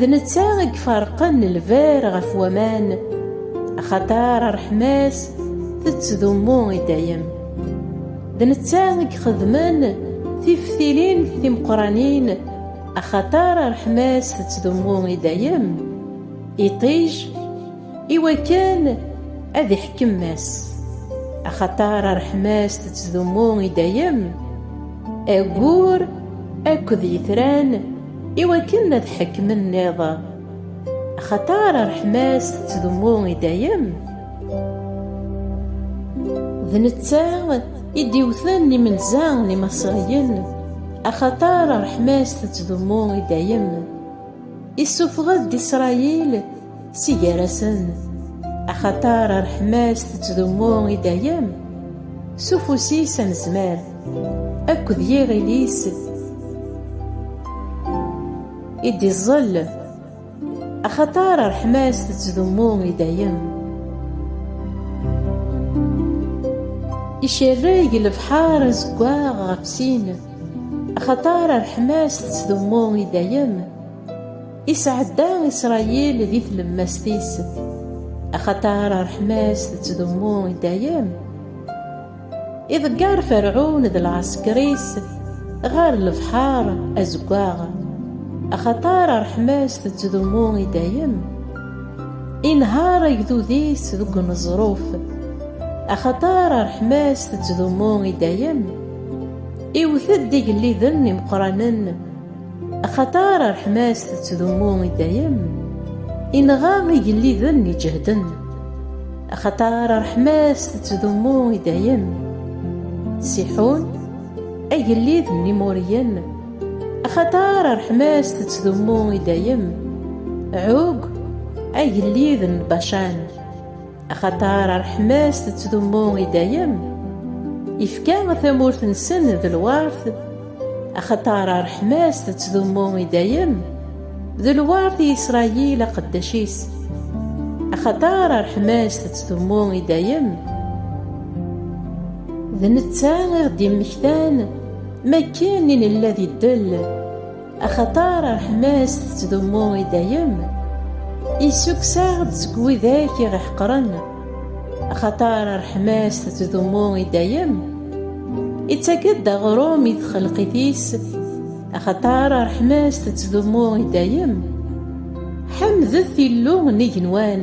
D netta i iferqen lberr ɣef waman, axaṭer ṛṛeḥma-s tettdummu i dayem. D netta i ixedmen tiftilin timeqqranin, axaṭer ṛṛeḥma-s tettdummu i dayem, iṭij, i wakken ad iḥkem Mass, axaṭer ṛṛeḥma-s tettdummu i dayem, aggur akked yitran, i wakken ad ḥekmen nniḍ axaṭer ṛṛeḥma-s tettdummu i dayem d netta i d-iwten imenza n imaṣriyen axaṭer ṛṛeḥma-s tettdummu i dayem issufeɣ-d isṛayil Si gar-asen, axaṭer rreḥma-s tettdummu i dayem, s ufus-is anezmar, akked yiɣil-is i d-iẓẓel, axaṭer rreḥma-s tettdummu i dayem. Icerreg lebḥer azeggaɣ ɣef sin, axaṭer rreḥma-s tettdummu i dayem. Isɛedda Isṛayil di tlemmast-is, axaṭer ṛṛeḥma-s tettdummu i dayem. Iḍegger Ferɛun d lɛesker-is ɣer lebḥeṛ Azeggaɣ, axaṭer ṛṛeḥma-s tettdummu i dayem. Inehheṛ agdud-is deg uneẓruf, axaṭer ṛṛeḥma-s tettdummu i dayem. Iwwet-d igelliden imeqqranen. Axaṭer ṛṛeḥma-s tettdummu i dayem, inɣa igelliden iǧehden. Axaṭer ṛṛeḥma-s tettdummu i dayem. Siḥun, agellid n Imuriyen, axaṭer ṛṛeḥma-s tettdummu i dayem. Ɛug, agellid n Bacan. Axaṭer ṛṛeḥma-s tettdummu i dayem, ifka tamurt-nsen d lwert. Axaṭer ṛṛeḥma-s tettdummu i dayem, d lwert i Isṛayil aqeddac-is. Axaṭer ṛṛeḥma-s tettdummu i dayem. D netta i ɣ-d-immektan m'akken i nella di ddel. Axaṭer ṛṛeḥma-s tettdummu i dayem, issukkes-aɣ-d seg widak i ɣ-iḥeqren. Axaṭer ṛṛeḥma-s tettdummu i dayem, ittak-d aɣrum i txelqit-is. Axaṭer ṛṛeḥma-s tettdummu i dayem, ḥemdet Illu n igenwan!